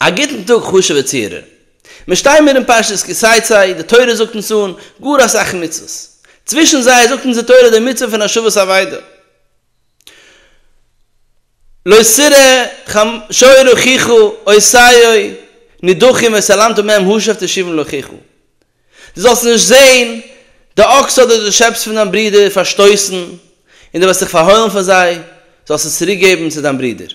א גוטן טאג חשוב'ע צוהערער. מיר שטייען מיר אין פרשת כי צאצאי, די תורה זאגט אונז אן גאר אסאך מצוות. צווישן זיי זאגט אונז די תורה די מצוה פון השבת אבידה. לא סרה ח שאי רחיכו אוי סייוי נידחים וסלמתו מהם הושב תשיבון לחיכו. דו זאלסט נישט זען די אקס אדער די שעפס פון דיין ברודער פארשטויסן, און דו וועסט זיך פארהוילן פון זיי, זאלסט עס צוריק געבן צו דיין ברודער.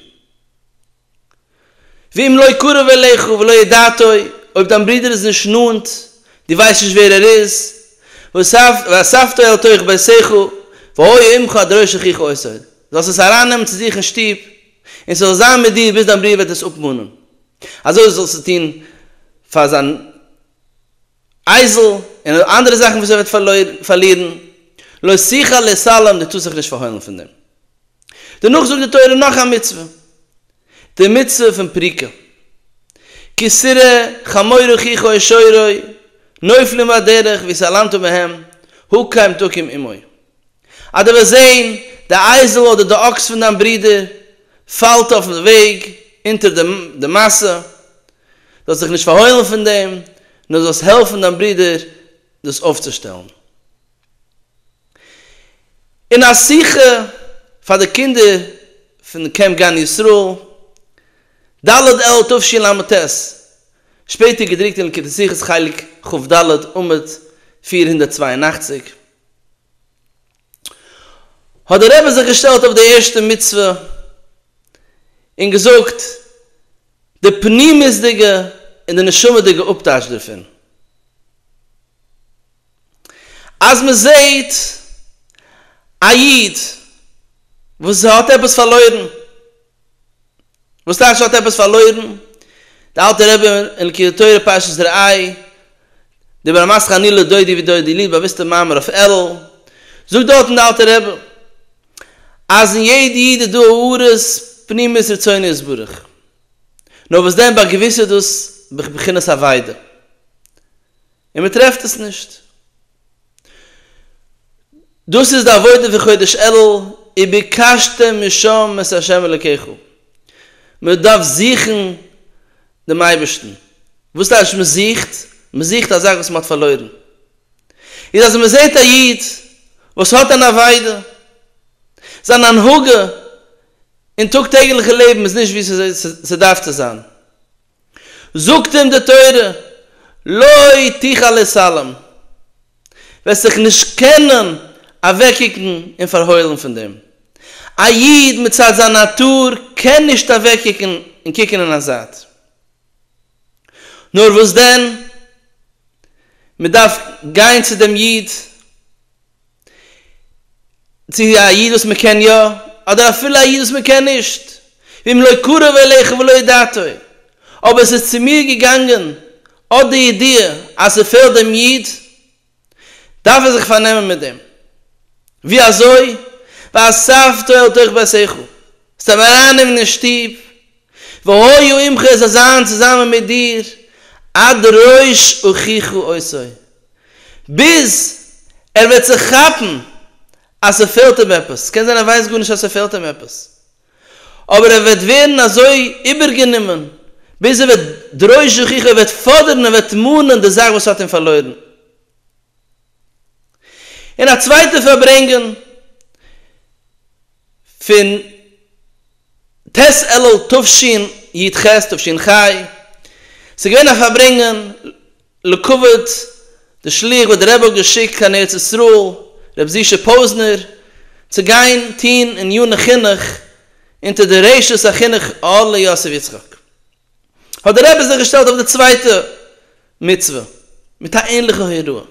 ואם לא קרוב אליך ולא ידעתו, אויב דיין ברודער איז נישט נאנט, דו ווייסט נישט ווער ער איז, ואספתו אל תוך ביתך, והיה עמך עד ראש אחיך אוסר, זאלסט עס ארייננעמען צו זיך אין שטוב, און ס'זאל זיין מיט דיר ביז דיין ברודער וועט עס אפמאנען, אזוי זאלסטו טון פאר זיין. אייזל, און אויף אנדערע זאכן וואס ער וועט פארלירן, לא שיחה לסלם, דו טוסט זיך נישט פארהוילן פון דעם. דערנאך זאגט די תורה נאך א מצוה, די מצוה פון פריקה, כי סרה חמור אחיך או שורו, נופלים בדרך, ויסלמת מהם, הוא קיים תקים עמו. אז דו וועסט זען די אייזל אדער די אקס פון דיין ברודער פאלט אויפן וועג אונטער די מעשה, זאלסט זיך נישט פארהוילן פון דעם, נאר זאלסט העלפן דיין ברודער דאס אויפצושטעלן. אין א שיחה פאר די קינדער פון קעמפ גן ישראל, ד' אלול תשל ט, שפעטער געדרוקט אין ליקוטי שיחות חלק כ ד עמוד פֿיר הונדערט צוויי און אַכציק, האט דער רבי זיך געשטעלט אויף די ערשטע מצוה און געזאגט די פנימיות'דיגע און די נשמה'דיגע אפטייטש דערפון, אז מען זעט א איד וואס האט עפעס פארלוירן, וואס טייטש האט עפעס פארלוירן? די אלטע רבי אין כ א תורה פרשת ראה, די ברמת חניא לדודי ודודי לי, באוויסטע מאמר אויף אלול, זאגט דארטן די אלטע רבי, אז אין יעדע איד איז דא הארות פנימיות רצונו יתברך, נאר וואס דען ביי געוויסע איז דאס בבחינת אבידה, און מען טרעפט עס נישט. דאס איז די עבודה פון חודש אלול, וביקשתם משם את ה' אלוקיך, מען דארף זוכן דעם אייבערשטן, וואס טייטש מען זוכט? מען זוכט א זאך וואס מען האט פארלוירן, איז אז מען זעט א איד וואס האט אן אבידה, זיין הנהגה אין טאג טעגליכע לעבן איז נישט ווי ס'דארף צו זיין, זאגט אים די תורה, לא תוכל להתעלם, וועסט זיך נישט קענען אוועקקוקן און פארהוילן פון דעם. א איד מצד זיין נאטור קען נישט אוועקקוקן און קוקן אין א זייט. נאר וואס דען, מען דארף גיין צו דעם איד. צו א איד וואס מען קען יא, אדער אפילו א איד וואס מען קען נישט, ואם לא קרב אליך ולא ידעתו, אבער עס איז צו מיר געגאנגען אט די ידיעה אז ס'פעלט דעם איד, דארף איך זיך פארנעמען מיט דעם. ווי אזוי? ואספתו אל תוך ביתך, ס'טאר מען ארייננעמען אין שטוב, והיה עמך עס זאל זיין צוזאמען מיט דיר עד ראש אחיך עשו, ביז ער וועט זיך כאפן אז ס'פעלט אים עפעס, ס'קען זיין ער ווייסט גארנישט אז ס'פעלט אים עפעס, אבער ער וועט ווערן אזוי איבערגענומען ביז ער וועט דרוש אחיך, ער וועט פאדערן, ער וועט מאנען די זאך וואס האט אים פארלוירן. און א צווייטע פארברענגען פון ט' אלול תשנ י ח תשנ ח, ס'געווען א פארברענגען לכבוד די שליח וואס די רבי האט געשיקט קיין ארץ ישראל רבי זישע פוזנער צו גיין טוהן עניני חינוך אונטער די רשות החינוך אהלי יוסף יצחק. האט דער רבי זיך געשטעלט אויף די צווייטע מצוה מיט א ענליכע הוראה,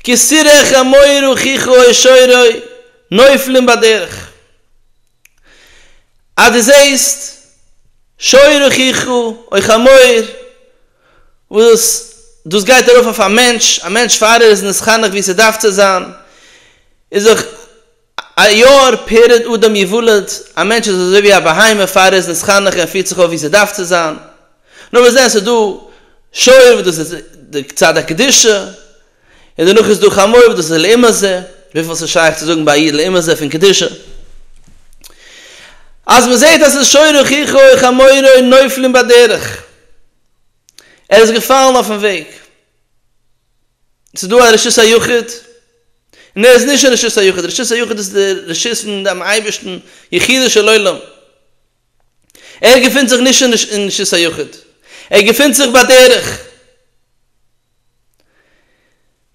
כסירך המאיר וכיכו העשורי נופלים בדרך, אז דו זעסט שור וכיכו, אויך א מויער, וואס דאס גייט ארויף אויף א מענטש, א מענטש פאר ער איז נתחנך ווי ס'דארף צו זיין, איז זיך. א יאר פרעד אדם יוולד, א מענטש איז אזוי ווי א בהמה פאר ער איז נצחנח און פירט זיך אויף ווי ס'דארף צו זיין. נו מיר זעהן ס'איז דא שור וואס דאס איז די צד הקדושה, און דערנאך איז דא חמור וואס דאס איז לעומת זה, וויפיל ס'איז שייך צו זאגן ביי א איד לעומת זה פון קדושה. אז מ'זעהט אז ס'איז שור אחיך וחמורו נופלים בדרך, ער איז געפאלן אויפן וועג. ס'איז דא א רשות היחיד, און ער איז נישט אין רשות היחיד, רשות היחיד איז די רשות פון דעם אייבערשטן, יחידו של עולם, ער געפינט זיך נישט אין רשות היחיד, ער געפינט זיך בדרך,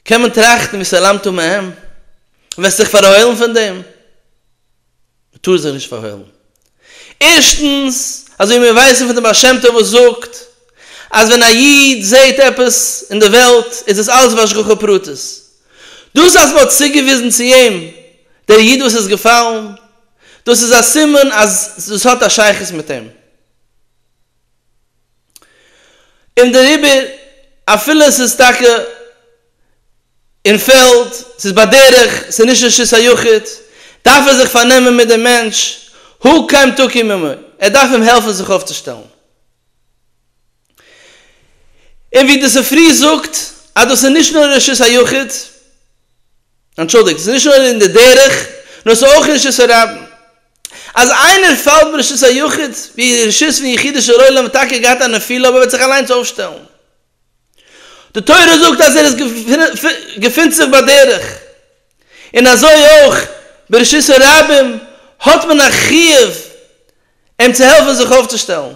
קען מען טראכטן וסלמתו מהם, וועסט זיך פארהוילן פון דעם? מ'טאר זיך נישט פארהוילן. ערשטנס, אזוי ווי מיר ווייסן פון דעם בעל שם טוב וואס זאגט אז ווען א איד זעט עפעס אין דער וועלט איז עס אלץ בהשגחה פרטית. דאס אז מ'האט צוגעוויזן צו אים דער איד וואס איז געפאלן, דאס איז א סימן אז דאס האט א שייכות מיט אים. און דעריבער אפילו עס איז טאקע אין פעלד, עס איז בדרך, עס איז נישט רשות היחיד, דארף ער זיך פארנעמען מיט דעם מענטש, הוא קם תקים עמו, ער דארף אים העלפן זיך אויפצושטעלן. און ווי די ספרי זאגט אז דאס איז נישט נאר אין רשות היחיד, אנטשולדיגט, עס איז נישט נאר אין די דרך, נאר עס איז אויך אין רשות הרבים. אז איינער פאלט ברשות היחיד, ווי רשות פון יחידישער עולם וואלט טאקע געהאט א נפילה אבער וועט זיך אליינס אויפשטעלן. די תורה זאגט אז ער איז געפינט זיך בדרך, און אזוי אויך ברשות הרבים האט מען א חיוב אים צו העלפן זיך אויפצושטעלן.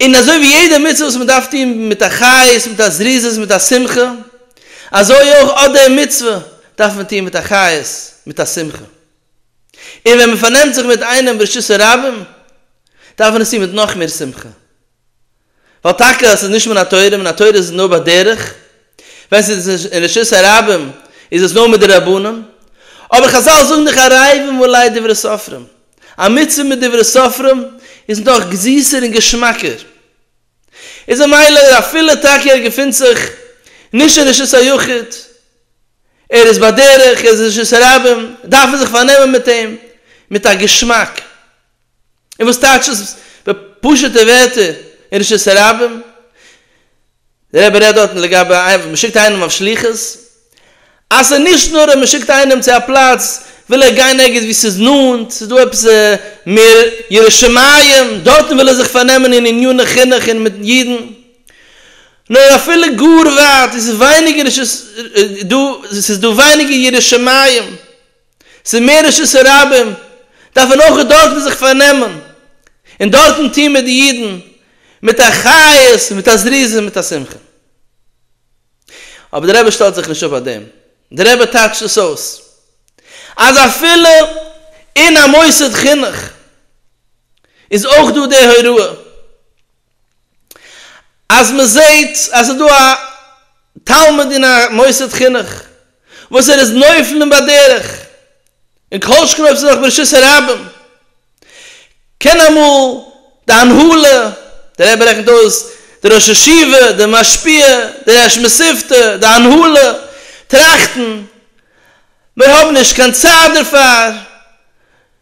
און אזוי ווי יעדע מצוה וואס מען דארף טון מיט א חיות, מיט א זריזות, מיט א שמחה, אזוי אויך אט די מצוה דארף מען טון מיט א חיות, מיט א שמחה. און ווען מען פארנעמט זיך מיט איינעם ברשות הרבים דארף מען עס טון מיט נאך מער שמחה, ווייל טאקע עס איז נישט מן התורה, מן התורה איז נאר בדרך, ווען ס'איז אין רשות הרבים איז עס נאר מיט די רבנים, אבער חזל זאגן דאך ערבים אולי דברי סופרים, א מצוה מיט דברי סופרים איז נאך זיסער און געשמאקער. איז ממילא ער אפילו טאקע ער געפינט זיך נישט אין רשות היחיד, ער איז בדרך, ער איז אין רשות הרבים, דארף מען זיך פארנעמען מיט אים מיט א געשמאק. און וואס טייטש עס בפשוט'ע ווערטער אין רשות הרבים? דער רבי רעדט דארטן לגבי איינעם וואס מ'שיקט איינעם אויף שליחות, אז ס'איז נישט נאר אז מ'שיקט איינעם צו א פלאץ, וויל ער גיין ערגעץ וואו ס'איז נאנט, ס'איז דא עפעס מער ירא שמים, דארטן וויל ער זיך פארנעמען אין עניני חינוך און מיט אידן, נאר אפילו גאר ווייט, איז ווייניגער דא, ס'איז דא ווייניגער ירא שמים, ס'איז מער רשות הרבים, דארף מען אויך דארטן זיך פארנעמען, און דארטן טון מיט די אידן מיט א חיות, מיט א זריזות, מיט א שמחה. אבער דער רבי שטעלט זיך נישט אפ אויף דעם, דער רבי טייטשט עס אויס אז אפילו אין א מוסד חינוך איז אויך דא די הוראה אז מען זעט אז עס איז דא א תלמיד אין א מוסד חינוך וואס ער איז נופלים בדרך און כל שכן אויב עס איז נאך ברשות הרבים. קען אמאל די הנהלה, דער רבי רעכנט אויס, דער ראש ישיבה, דער משפיע, דער ראש מספתא, די הנהלה, טראכטן, מיר האבן נישט קיין צייט דערפאר,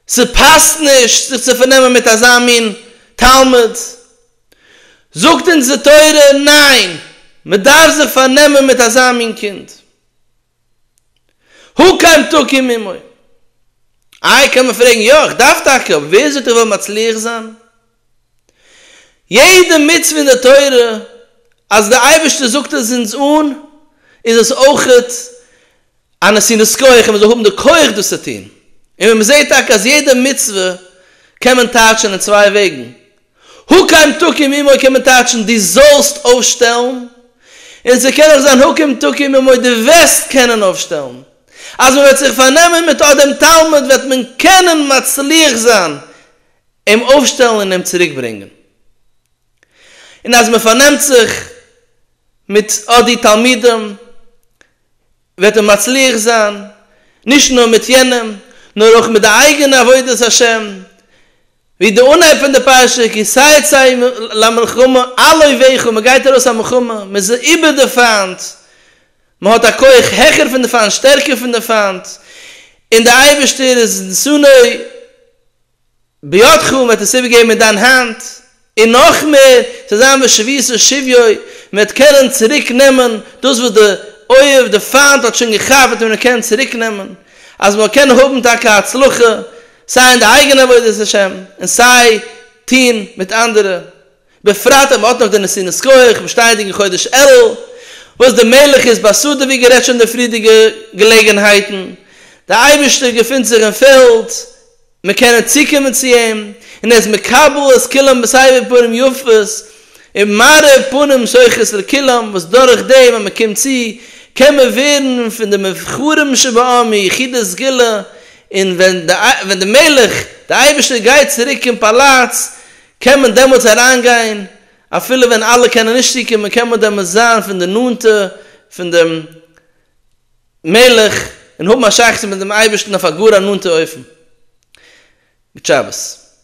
ס'פאסט נישט זיך צו פארנעמען מיט אזא מין תלמיד. זאגט אונז די תורה, ניין! מ'דארף זיך פארנעמען מיט אזא מין קינד. הוא כאן תוקי מימי. איי קען מען פרעגן יא איך דארף טאקע אבער ווער זאגט איך וועל מצליח זיין? יעדע מצוה אין די תורה אז די אייבערשטער זאגט עס אונז אן איז עס אויכעט א נסינת כח אז מען זאל האבן די כח דאס צו טון און ווען מען זעט טאקע אז יעדע מצוה קען מען טייטשען אין צוויי וועגן הוקם תקים עמו קען מען טייטשן דו זאלסט אויפשטעלן, און ס'קען אויך זיין הוקם תקים עמו דו וועסט קענען אויפשטעלן. אז מען וועט זיך פארנעמען מיט אט דעם תלמיד וועט מען קענען מצליח זיין אים אויפשטעלן און אים צוריקברענגען. און אז מען פארנעמט זיך מיט אט די תלמידים וועט ער מצליח זיין נישט נאר מיט יענעם נאר אויך מיט די אייגענע עבודת השם, ווי די אנהייב פון די פרשה כי צאצאי למלחמה עלו וכו', מען גייט ארויס א מלחמה, מען איז איבער די פיינט, מען האט א כח העכער פון די פיינט, שטערקער פון די פיינט, און די אייבערשטער איז שונא בידכם, מ'וועט עס איבערגעבן אין דיין האנט, און נאך מער, ס'וועט זיין ווי שביס און שביוי, מ'וועט קענען צוריק נעמען דאס וואס די אויב, די פיינט האט שוין געכאפט וועט מען אים קענען צוריק נעמען, אז מ'זאל קענען האבן טאקע הצלחה סיי אין די אייגענע עבודת השם און סיי טון מיט אנדערע. בפרט אז מען האט נאך די נסינות כח באשטייענדיג אין חודש אלול, וואס די מלך איז בסדר ווי גערעדט שוין אין די פריערדיגע געלעגענהייטן, די אייבערשטער געפינט זיך אין פעלד, מיר קענען צוקומען צו אים, און ער איז מקבל את כולם בסבר פנים יפות, און מארע פנים שוחט לכולם, וואס דורך דעם אז מען קומט צו, קען מען ווערן פון די מובחרים שבעם יחידי סגולה, און ווען די מלך, די אייבערשטער גייט צוריק אין פאלאץ, קען מען דעמאלטס אריינגיין, אפילו ווען אלע קענען נישט צוקומען קען מען דעמאלטס זיין פון די נאנטע פון דעם מלך און האבן א שייכות מיט דעם אייבערשטן אויף א גאר א נאנטע אופן. גוט שבת.